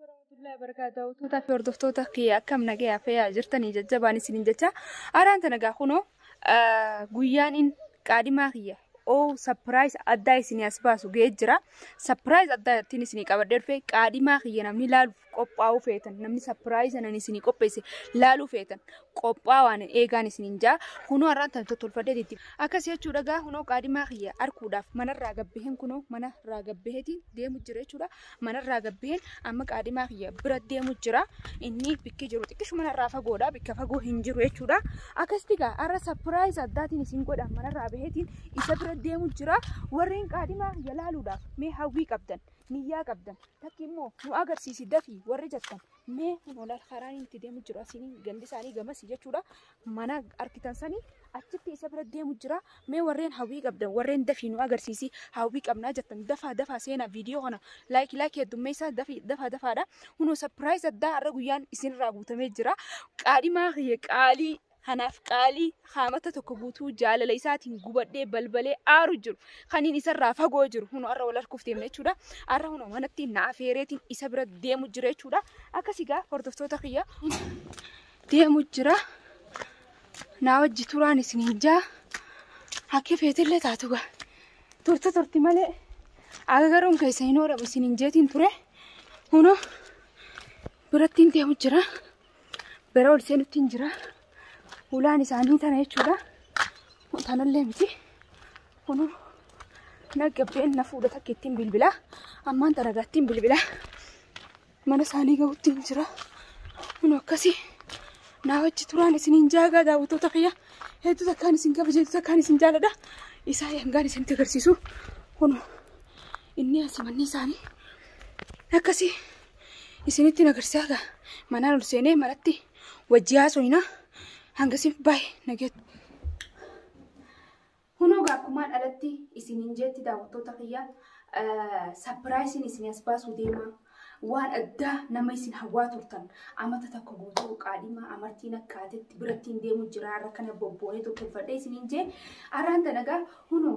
warahmatullahi wabarakatuh. Tuutaa fi hordoftoota kiyya akkam nagaya fayyaa jirtanii jajjabaan isiniin jecha araan tana gaa kunoo guyyaan in qaadimaa kiyya oo sapiraayis addaa isinii as baasu ga'ee jira. Sapiraayis addaa ittiin isinii qabadhee dhufe qaadimaa kiyya namni laaluuf qophaa'uu feetan namni sapiraayis anan isinii qopheesse laaluu feetan qophaa waan eegaan isiniin jaa kunoo har'aan tan tottolfadhee itti akkas jechuu dhagaa kunoo qaadimaa kiyya arkuudhaaf manarraa gabbaheen kunoo manarraa gabbaheetiin deemu jira jechuudha manarraa gabbaheen amma qaadimaa kiyya bira deemu jira inni bikki jiru xiqqishu manarraa fagoodha bikka fagoo hin jiru jechuudha akkasitti gaa har'a sapiraayiz addaatiin isin godha manarraa baheetiin isa bira deemu jira warreen qaadimaa kiyya laaluudhaaf mee hawwii qabdan niyyaa qabdan takki immoo nu agarsiisi dafii warri jettan Mee walaal karaan inni itti deemu jiru asiin gandi isaanii gamas jechuudha. Mana argitan sanii achitti isa bira deemu jira. Mee warreen hawwii qabdan warreen dafii nu agarsiisi hawwii qabnaa jettan dafaa dafaa seenaa viidiyoo kana laayik laayik heddummeessaa dafii dafaa dafaadha. Hunoo sapiraayiz addaa har'a guyyaan isinirraa guutamee jira. Qaadhimaa kiyya qaalii Kanaaf qaalii haamata tokko guutuu jaalala isaatiin gubadhee balbalee aaru jiru. Kaniin isarraa fagoo jiru. Hunu arra wal harkuuf deemna jechuudha. Arra hunu manatti na afeereetiin isa bira deemu jira jechuudha. Akkas egaa hordoftoota kiyya deemu jira. Naa wajji turaan isiniin jaa. Hakkee feetillee taatu gaa. Turte turti malee agagaruun keessa hin oolamu isiniin jeetiin ture. Hunu birattiin deemu jira. bira ol seenutti hin jira. Hulaan isaanii tana jechuudha. Tanallee miti. Kun naggabbeen na fuudha takka ittiin bilbilaa. Ammaan taragaa ittiin bilbilaa. Mana isaanii gahutti hin jira. Kun akkasii naa wajji turaan isiniin jaagaa daawwattoota kiyya. Hedduu takkaan isin kabaja hedduu takkaan isin jaaladha. Isaa hangaan isinitti agarsiisu. Kun inni asi manni isaanii akkasii. isinitti nagarsiisaa gaa manaan ol seenee manatti wajjii haasoyina hangasiif baay'ee nageetti. Kunoo gaa akkumaan alatti isiniin jeetti daawwattoota kiyya sapiraayisiin isin as baasuu deema. Waan addaa nama isin hawwaa turtan amata tokko guutuu qaadhimaa amartiin akkaatetti birattiin deemu jira har'a kana bobbooneetu tolfadhee isiniin jee araan tana gaa kunoo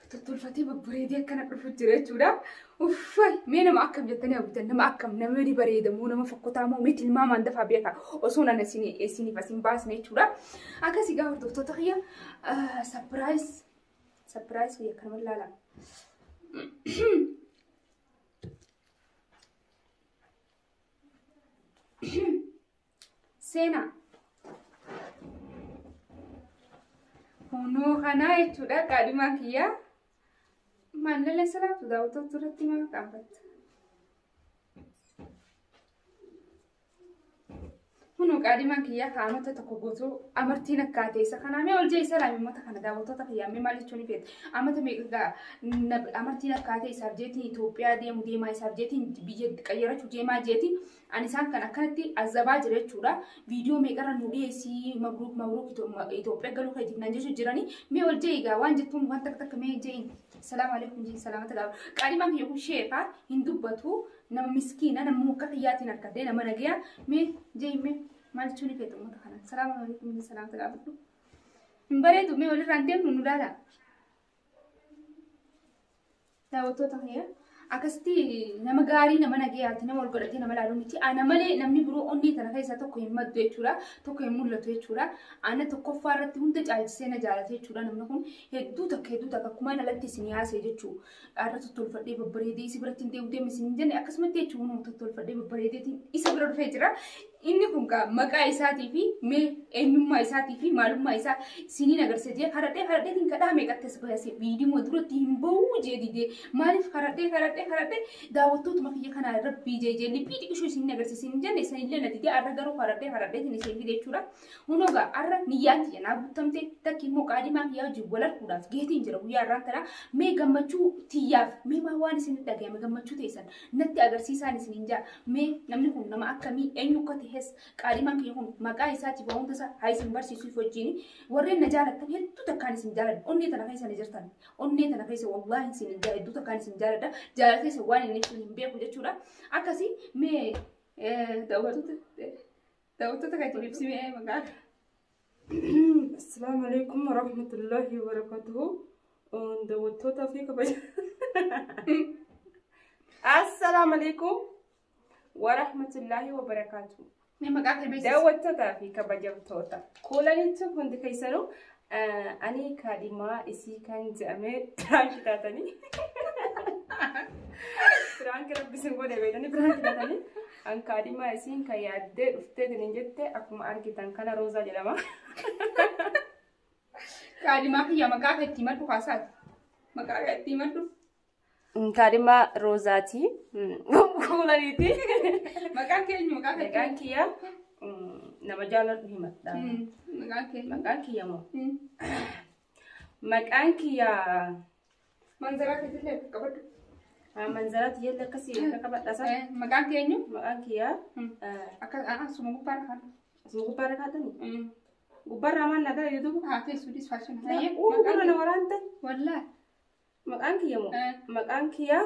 Tottolfatee babbareedee akkana dhufu jira jechuudha. Uffay mee nama akkam jettanii hawwitan nama akkam nama ni bareeda moo nama fokkotaa moo mee tilmaamaan dafaa beekaa osoo nana isiniif as hin baasne jechuudha. Akkasii gaafa hordoftoota kiyya sapiraayis sapiraayis kiyya kanuma ilaala. Seenaa. Kunoo kanaa jechuudha qaadhimaan kiyyaa. Maallala salaatu daawwattoota irratti maal qaabbatta? Kunoo qaadhimaan kiyyaa kaa'amata tokko guutuu amartiin akkaa teessa kanaa mee oljee isa laamee mata kana daawwattoota kiyyaa mee maal jechuun feete? Amata meeqa amartiin akkaa teessaaf jeetiin Itoophiyaa deemu deemaa isaaf jeetiin biyya qayyarachuu deemaa jeetiin Ani isaan kan akkanatti azabaa jira jechuudha. Viidiyoo meeqarra nu dhiyeessii mabruuk mabruuk Itoophiyaa galuu keetiif nan jechuu jiranii. Mee ol je'i egaa waan jettuun waan takka takka mee je'iin. Salaamu alaikum je'iin salaamata gaafadhu. Qaalimaan kiyya kun sheekaa hin dubbatu nama miskiina nama mukka kiyyaatiin argadhee nama nagaya mee je'iin mee maal jechuu ni feetu uummata kana. Salaamu alaikum je'iin salaamata gaafadhu. Hin bareedu mee walirraan deemnu nu laala. Daawwattoota kiyya akkasitti nama gaarii nama nagayaati nama wal godhatee nama laalu miti ana malee namni biroo onnee tana keessaa tokko hin maddu jechuudha tokko hin mul'atu jechuudha ana tokkoffaa irratti hunda caalchisee na jaalate jechuudha namni kun hedduu takka hedduu takka akkuma ana latti isin yaasee jechuu dhaarra tottolfadhee babbareedee isi biratti hin deemu deemu isin hin jenne akkasumatti jechuun tottolfadhee babbareedeetiin isa bira dhufee jira Inni kun kaa maqaa isaatii fi mee eenyummaa isaatii fi maalummaa isaa isiniin agarsiisa jee karadhee karadheetiin kadhaa meeqatti as baase viidiyoo duratti hin ba'uu jee didee maaliif karadhee karadhee karadhee daawwattootuma kiyya kanaa rabbii jee jee liphii xiqishuu isiniin agarsiisa hin jenne isanillee na didee arra garuu karadhee karadheetiin isin fide jechuudha. Hunogaa arra niyyaan tiyya naa guuttamte takki immoo qaadimaa kiyyaa wajjin wal arguudhaaf geetiin jira guyyaa arraan tanaa mee gammachuu tiyyaaf mee maa waan isin dhagayame gammachuu teessan Natti agarsiisaan isiniin ja'a. Mee namni kun nama akkamii eenyu akka ta'es qaadhimaan kiyya kun maqaa isaatiif waa hunda isaa haa isin barsiisuuf wajjin warreen na jaalattan hedduu takkaan isin jaaladha. Onnee tana keessa na jirtan. Onnee tana keessa wallaahi isiniin ja'a hedduu takkaan isin jaaladha. Jaalala keessa waan inni ibsu hin beeku jechuudha. Akkasii mee daawwattoota daawwattoota kan itti ibsimee maqaa. Assalaamu alaikum warahmatullahi wabarakatuhu. Daawwattootaa fi kabaja. Assalaamu alaikum warahmatullahi wabarakatuhu. Mee maqaa kee beeksisi. Daawwattootaa fi kabajamtoota. Kuulanitti hundi keessanuu ani kaadhimaa isii kan jedhamee piraanki taatanii. Piraanki rabbi isin godhe beekanii piraanki taatanii. Kan kaadhimaa isiin kan yaaddee dhuftee tinin jette akkuma argitan kana Roozaa jedhama. Kaadhimaa kiyya maqaa kee itti himadhu haasaati. Maqaa kee itti himadhu. Kaadhimaa Roozaati. Kuulaniiti. Maqaan kee eenyu maqaa kee? Maqaan kiyya mm, nama jaalladhu himadha. Mm, Maqaan kee. Maqaan kiyya moo? Mm. Maqaan kiyya Manzaraa keessatti akka qabadhu. Manzaraa tiyyatti akkasii akka qabadha sana. Maqaan kee eenyu? Maqaan kiyyaa Akka asuma gubbaa irra kaadhu. asuma gubbaa irra kaatanii. Gubbaa irraa maal nagaa yuutubu? Haa teessuu dis faashin. Uu gurra na waraante. Wallaa. Maqaan kiyya moo? Maqaan kiyyaa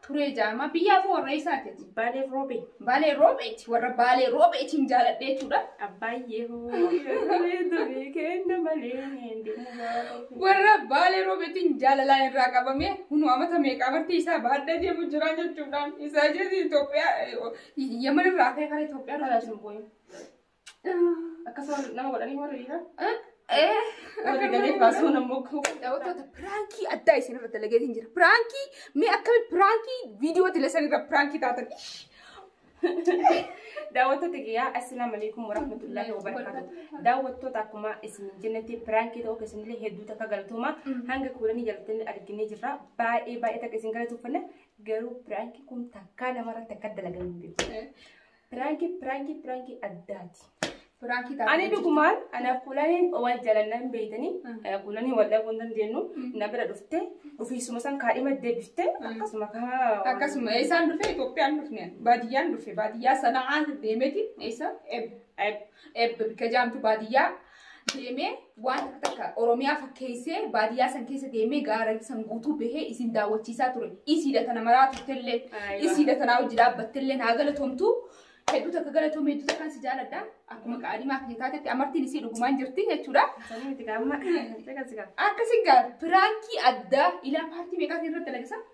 turee ja'ama. Biyyaa koo warra eessaati ati? Baalee Roobee. Baalee Roobeeti. Warra Baalee Roobeetiin jaaladhe jechuudha. Abbaayyee hoo yaadamee durii kenna malee hin deemu gaafa. Warra Baalee Roobeetiin jaalalaan irraa qabamee hunu amata meeqa amartii isaa baadhee deemu jira jechuudhaan isaa jechuun Itoophiyaa Yaman irraa ka'ee karaa Itoophiyaa irraa sun boo'e. Akkasuma nama godhanii warri dhiiraa. Warri galee baasuu nama mogguu. Daawwattoota piraankii addaa isin irra dalagee hin jira. Piraankii mee akkami piraankii viidiyoo tilesan irra piraankii taatan. Daawwattoota kiyyaa assalaamu alaikum warahmatullahi wabarakaatu. Daawwattoota akkuma isin jennetti piraankii ta'uu keessanillee hedduu takka galatooma. Hanga kuulanii jalatanii arginee jirra. Baay'ee baay'ee takka isin galatooffanna. Garuu piraankii kun takkaa namarratti akka dalagamu hin beeku. Piraanki piraanki piraanki addaati. Piraanki taate. Ani dhugumaan anaaf kulaniin wal jalanna hin beeytanii kulanii wal dhabuu hin dandeenyu na bira dhufte ofiisuma san kaadhima deebifte akkasuma kaa Akkasuma eessaan dhufe Itoophiyaan dhufne baadiyyaan dhufe baadiyyaa sana'aa deemeti eessa eb eb eb bika jaamtu baadiyyaa deemee waan akka takka Oromiyaa fakkeessee baadiyyaa san keessa deemee gaara san guutuu bahee isin daawwachiisaa ture. Isiidha tana maraa turtellee, Aywa. isiidha tanaa hojii dhaabbattellee naa galatomtu. Hedduu takka galatoomee hedduu takkaan si jaaladha. Akkuma qaadimaa kee taatetti amartiin isii dhugumaan jirti jechuudha. Sanii miti gaamma. Caqasi gaamma. Akkasii gaa piraankii addaa ilaa paartii meeqaatiin irratti dalagisa?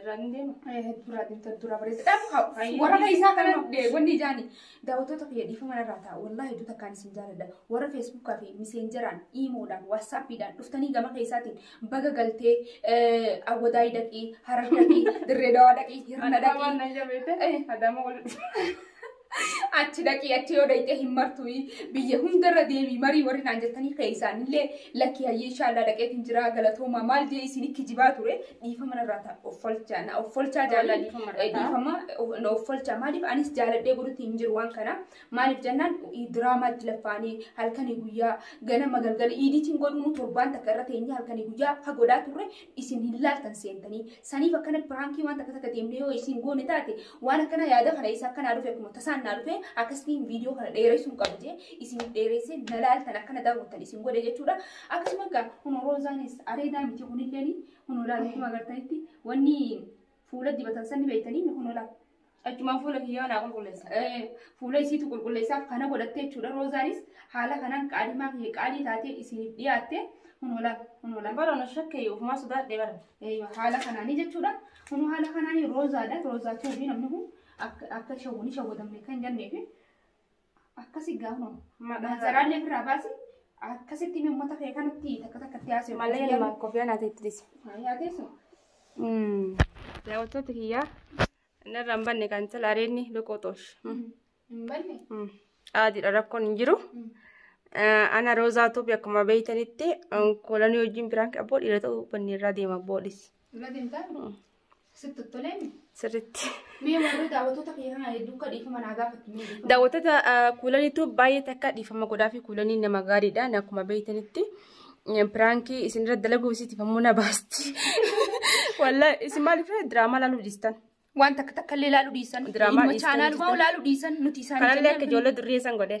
Irraan hin deemu. Hedduu irraa deemta hedduu irraa bareessa. Dhaaf haa Ayyo, warra dhiisii keessaa kana kana. dee- wanni ijaani daawwattoota kiyya dhiifama irraa ta'a wallaahi hedduu takkaan isin jaaladha warra feesbuukaa fi miseenjaraan iimoodhaan waatsaappiidhaan dhuftanii gama keessaatiin baga galtee eh, awwadaayii dhaqii harar dhaqii dirree dawaa dhaqii hirna Adama dhaqii na jabeete. Adama wal. achi dhaqii achi yoo dhaqxee hin martuyi biyya hundarra deemii marii warri naan jettanii keessaanillee lakkii hayyee inshaallah dhaqeetiin jiraa galatoomaa maal jee isin ikki jibaa ture dhiifama narraa ta'a offolchaa na offolchaa Wallaahi jaanii dhiifama irraa ta'a. dhiifama of- na offolchaa maaliif anis jaaladhee godhutti hin jiru waan kana maaliif jennaan diraamaatti laffaanii halkanii guyyaa ganama galgala iidiitiin godhuunu torbaan takka irra teenyee halkanii guyyaa ha godhaa turre isin hin laaltan seentanii saniif akkana piraankii waan takka takka deemnee yoo isin goone taate waan akkana yaada kana isa akkanaa dhufe akkuma tasaan naa dhufe akkasitiin viidiyoo kana dheeressuun qabu jee isin dheeressee na laaltan akkana daawwattan isin godhe jechuudha akkasuma egaa kun roozaanis areedaa miti kunilleen kun olaanaa akkuma agartanitti wanni Fuula dibatan san ni beektanii ni kunoo laal. Achumaan fuula kiyyaa naa qulqulleessa. Eh, Fuula isiitu qulqulleessaaf kana godhattee jechuudha. Roozaanis haala kanaan qaalimaa kiyya qaalii taatee isiniif dhiyaatte kunoo laal kunoo laal. Bara na shakkee ofumaa sodaadhe bara. Eeyyoo, haala kanaanii jechuudha. Kunoo haala kanaanii roozaadha. Roozaa tuubii namni kun akka akka shawwu ni shawwadamne kan jenneefi. Akkasi gaafuma. Maazaraallee ofirraa baasi. Akkasitti mee uummata kee kanatti takka takkatti haasa'u. Malee ilma kofiyaan ati itti dhisi. Yaa teessu. Daawwattoota kiyyaa narraa hin banne kan tala areedni loqoxoosh. Hin banne. Aadiidha rakkoon hin jiru. Ana Roozaa Tuubi akkuma beektanitti kolanii wajjin biraan abboo dhiira ta'uu banneerraa deema abboodhis. Irra deemtaa? Sitti tolee mi? Sirriitti. Mee warri daawwattoota kiyya kana duuka dhiifama naa gaafatti mee dhiifama. Daawwattoota kuulaniitu baay'ee takka dhiifama godhaa fi kuulanii nama gaariidha. Ani akkuma beektanitti piraankii isinirra dalaguuf isiitiif ammoo na baasti. Walaa isin maaliif diraamaa laaluu dhiistan? Waan takka takka illee laaluu dhiisan. Diraamaa Ilma dhiistan chaanaalumaa jechuudha. laaluu dhiisan nuti isaan Kanallee akka ijoollee durrii isan godhe.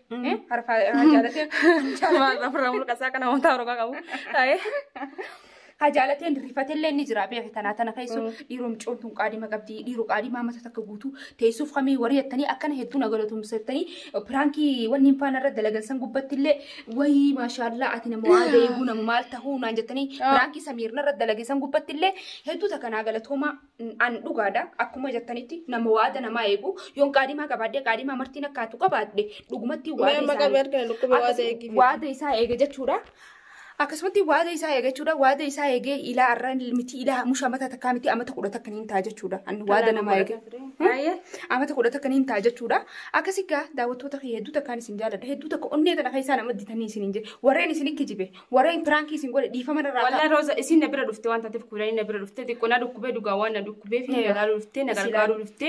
Harfaa jaalatee maal ofirraa mulqasaa kana wantaa roga qabu. Taa'ee. Hajaalateen rifatellee ni jira beeku tanaa tana keessu dhiiroo micoon tun qaadima qabdi dhiiroo qaadimaa mata takka guutu teessuuf kamii warri jettanii akkana hedduu na galatoomsettanii piraankii wanni hin faana irra dalagan san gubbattillee wayii maashaallaa ati nama waa deeguu nama maal tahuu naan jettanii piraankii samiirna irra dalage san gubbattillee hedduu takka naa galatoomaa an dhugaadha akkuma jettanitti nama waada namaa eegu yoon qaadimaa qabaadde qaadimaa martiin akkaatu qabaadde dhugumatti Mee waada amma isaa qabee argina dhukkubee waada Akkasuma eegiif. waada isaa eege jechuudha. Akkasumatti waada isaa eege jechuudha. Waada isaa eegee ilaa arra miti ilaa musha mata takkaa miti amata kudha takka niin ta'a jechuudha. Ani waada nama eege. Baay'ee. Amata kudha takka niin ta'a jechuudha. Akkasii gaa daawwattoota kee hedduu takkaan isin jaaladha. Hedduu takka onnee tana keessaa nama ditanii isin hin jedhe. Warreen isin ikki jibe. Warreen piraankii isin godhe dhiifama irraa Wallah Roza isin na bira dhufte waan taateef kuulanii na bira dhufte xiqqoo na dhukkubee dhugaa waan na dhukkubee fi na Eeyyoo. gargaaruu dhufte na Isin gargaaruu ilaalu. dhufte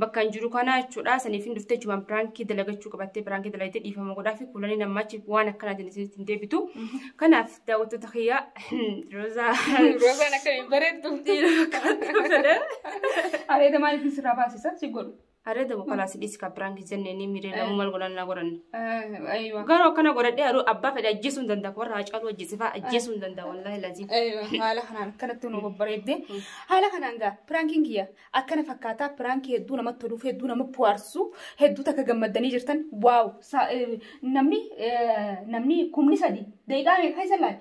bakka hin jiru kana jechuudha saniif hin dhufte jechuudha piraankii dalagachuu qabattee piraankii dalagdee dhiifama godhaa fi kuulanii namaachi waan akkanaatiin isinitti hin deebitu kanaaf daawwattoota kiyyaa Roza Roozaan akka hin bareeddu. Areeda maaliif sirraa baasisa si godhu. Aree dabu kalaasi dhiisi ka piraanki jenne inni miiree lamu mal godhan na godhan. Aywa. Garuu akkana godhadhee aduu abbaa fedhe ajjeesuu hin danda'a warra haacaaluu ajjeesifaa ajjeesuu hin danda'a wallaahi laziim. Aywa. Haala kanaan akkanatti nu babbareedde. Haala kanaan gaa piraankiin kiyya akkana fakkaataa piraankii hedduu namatti toluuf hedduu nama bu'aarsu hedduu takka gammaddanii jirtan waaw sa- eh, namni eh, namni kumni sadi daqiiqaa meeqa keessa laale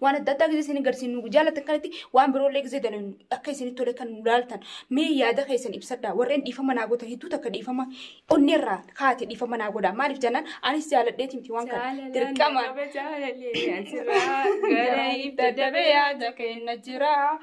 waan adda addaa gisee isin garsiin nu jaalatan kanatti waan biroollee gisee dalan akka isinitti tole kan nu laaltan mee yaada keessan ibsadha warreen dhiifama naa gootan hedduu takka dhiifama onneerraa kaate dhiifama naa godha maaliif jennaan anis jaaladheeti miti waan kana dirqama. Gara ibda dabee yaada kenna jira.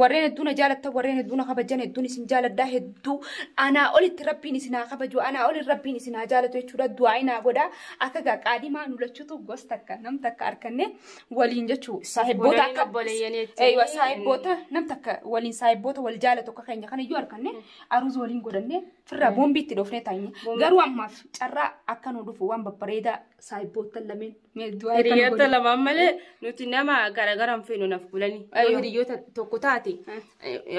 warreen hedduu na jaalattan warreen hedduu na kabajan hedduun isin jaaladhaa hedduu anaa olitti rabbiin isin haa kabaju anaa olin rabbiin isin haa jaalatu jechuudha du'aa inaa godha akka gaa qaadimaa nu lachutu gos takka nam takka arkanne waliin jechuu saahibboota Waliin akka obboleeyyan jechuun. Eeywa, saahibboota nam takka waliin saahibboota wal jaalatu akka keenya kana iyyuu arkanne aruuza waliin godhanne firraa boombii itti dhoofnee taa'inye garuu ammaaf carraa akka nu dhufu waan babbareedaa Saayibboottan lameen. Hiriyoota lamaan malee nuti nama garaagara hin feenu naaf bulanii. Yoo hiriyoota tokko taate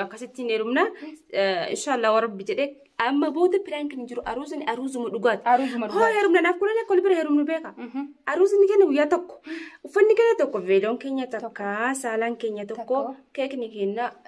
akkasitti hin heerumna. Inshaallah warabbi jedhee amma booda piraank hin jiru aruusin aruusuma dhugaati. Aruusuma dhugaati. Hoo heerumna naaf bulanii akka walbira heerumnu beeka. Aruusni keenya guyyaa tokko. Uffanni keenya tokko veeloon keenya takka saalaan keenya tokko keekni keenya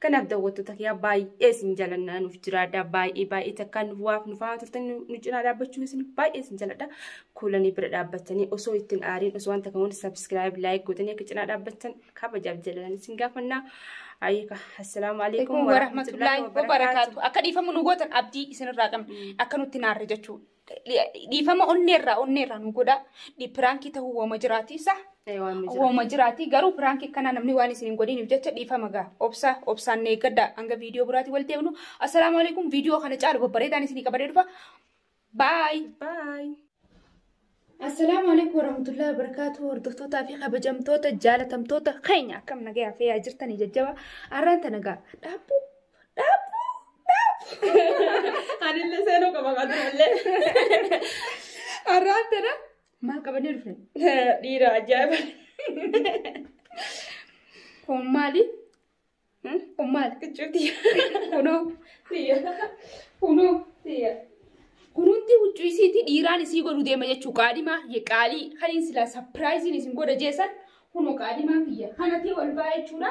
Kanaaf daawwattoota kiyyaa baay'ee isin jalannaa nuuf jiraadha. Baay'ee baay'ee takkaan nuuf waaf nu fa'aa turtan nu cinaa dhaabbachuun isin baay'ee isin jaladha. Kuulanii bira dhaabbattanii osoo ittiin aariin osoo wanta kamuun sabiskiraayib laayik gootanii akka cinaa dhaabbattan kabajaaf jalalan isin gaafannaa. Ayyika. Assalaamu alaikum warahmatullahi wabarakaatu. Akka dhiifamu nu gootan abdii isinirraa qabna. Akka nutti naarre jechuudha. dhiifama onneerraa onneerraa nu godha piraankii ta'uu wooma jiraati sa wooma jiraati garuu piraankii akkanaa namni waan isin hin godhiniif jecha dhiifama gaa obsa obsaan eeggadha hanga viidiyoo biraatii wal deemnu assalaamu alaikum viidiyoo kana caalu babbareedaan isinii qabadee dhufa baay baay. Assalaamu alaikum warahmatullahi wabarakatuh hordoftootaa fi kabajamtoota jaalatamtoota keenya akkam nagayaa fi yaa jirtanii jajjaba arraan tana gaa dhaabbuu Anillee seenuu qaba qaturullee. Arraan tana maal qabannee dhufne? Dhiira ajaa'iba. Kun maali? Kun maali? Kichuuti. Kunoo. Tiyya. Kunoo. Tiyya. Kunuunti huccuu isiitii dhiiraan isii godhu deema jechuu qaadhimaa ye qaalii kan hin silaa sapiraayiziin isin godha jeessan kunoo qaadhimaa kiyya kanatti wal baa jechuudha.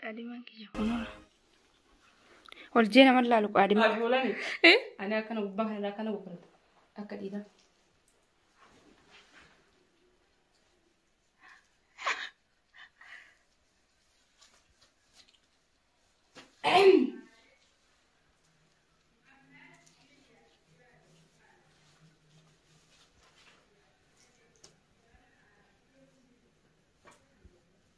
Qaadimaan kiyya kunoo. Ol jee nama laalu qaadimaa. Ajoolani. Eh? Ani akkana gubbaa kanarraa akkana boqotu. Akka dhiiraa.